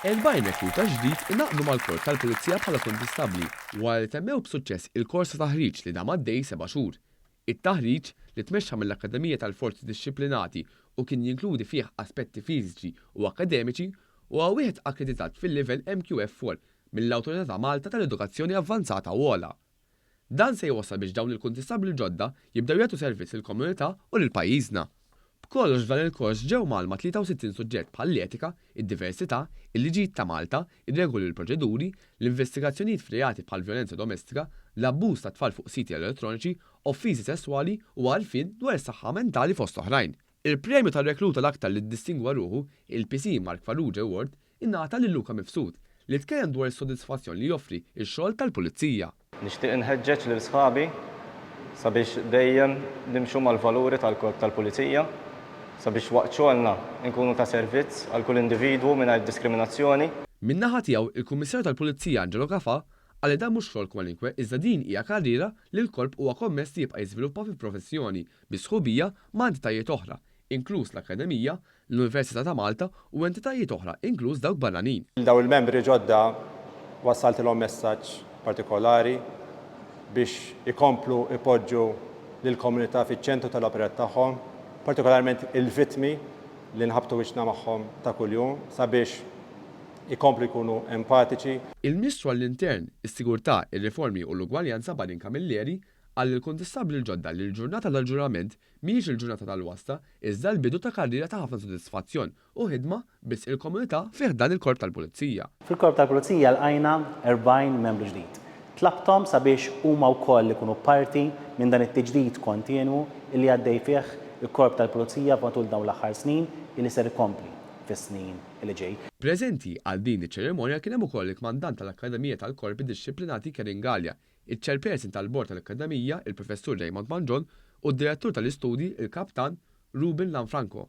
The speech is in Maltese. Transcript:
Erbgħin rekruta ġdid ingħaqdu mal-Korp tal-Pulizija bħala kondistabbli wara li temmew b'suċċess il-kors ta' taħriġ li dam għaddej seba' xhur. It-taħriġ, li tmexxa mill-Akkademija tal-Forzi Dixxiplinati u kien jinkludi fih aspetti fiżiċi u akkademiċi, huwa wieħed akkreditat fil-livell MQF-4 mill-Awtorità ta' Malta tal-Edukazzjoni Avvanzata u Ogħla. Dan se jwassal biex dawn il-kuntistabbli l-ġodda jibdew jagħtu servizz lill-komunità u lil pajjiżna. B'kollox f'dan il-kors ġew mgħallma 63 suġġett bħall-etika, id-diversità, il-liġijiet ta' Malta, ir-regoli u l-proċeduri, l-investigazzjonijiet f'reati bħall-vjolenza domestika, l-abbuż tat-tfal fuq siti elettroniċi, offiżi sesswali u għarfien dwar is-saħħa mentali fost oħrajn. Il-premju tar-rekluta l-aktar li ddistingwa ruħu, il-PC Mark Farrugia Award, ingħata lil Luca Mifsud, li tkellem dwar is-sodisfazzjon li joffri x-xogħol tal-pulizija. Nixtieq inħeġġeġ lil sħabi sabiex dejjem nimxu mal-valuri tal-Korp tal-Pulizija, sabiex waqt xogħolna nkunu ta' servizz għal kull individwu mingħajr diskriminazzjoni. Min-naħa tiegħu, il-Kummissarju tal-Pulizija Angelo Cafà qal li dan mhux xogħol kwalinkwe iżda din hija karriera li l-Korp huwa kommess li jibqa' jiżviluppa fi professjoni bi sħubija ma' entitajiet oħra, inkluż l-Akkademija, l-Università ta' Malta u entitajiet oħra inkluż dawk barranin. Lil dawn il-membri ġodda wassaltilhom messaġġ partikolari biex ikomplu jpoġġu lill-komunità fiċ-ċentru tal-operat tagħhom, partikolarment il-vittmi li nħabbtu wiċċna magħhom ta' kuljum, sabiex ikomplu jkunu empatiċi. Il-Ministru għall-Intern, is-Sigurtà, ir-Riformi u l-Ugwaljanza Badin Camilleri Qal lill-kuntistabbli l-ġodda li l-ġurnata tal-ġurament mhijiex il-ġurnata tal-wasta iżda l-bidu ta' karriera ta' ħafna sodisfazzjon u ħidma b'wisq il-komunità fi ħdan il-Korp tal-Pulizija. Fil-Korp tal-Pulizija lqajna 40 membru ġdid. Tlabthom sabiex huma wkoll ikunu parti minn dan it-tiġdid kontinwu li għaddej fih il-Korp tal-Pulizija matul dawn l-aħħar snin u li ser ikompli fis-snin li ġej. Preżenti għal din iċ-ċerimonja kien hemm ukoll il-Kmandant tal-Akkademija tal-Korpi Dixxiplinati Kevin Galea, iċ-Chairperson tal-Bord tal-Akkademija, il-Professur Raymond Mangion, u d-Direttur tal-Istudji, il-Kaptan Ruben Lanfranco.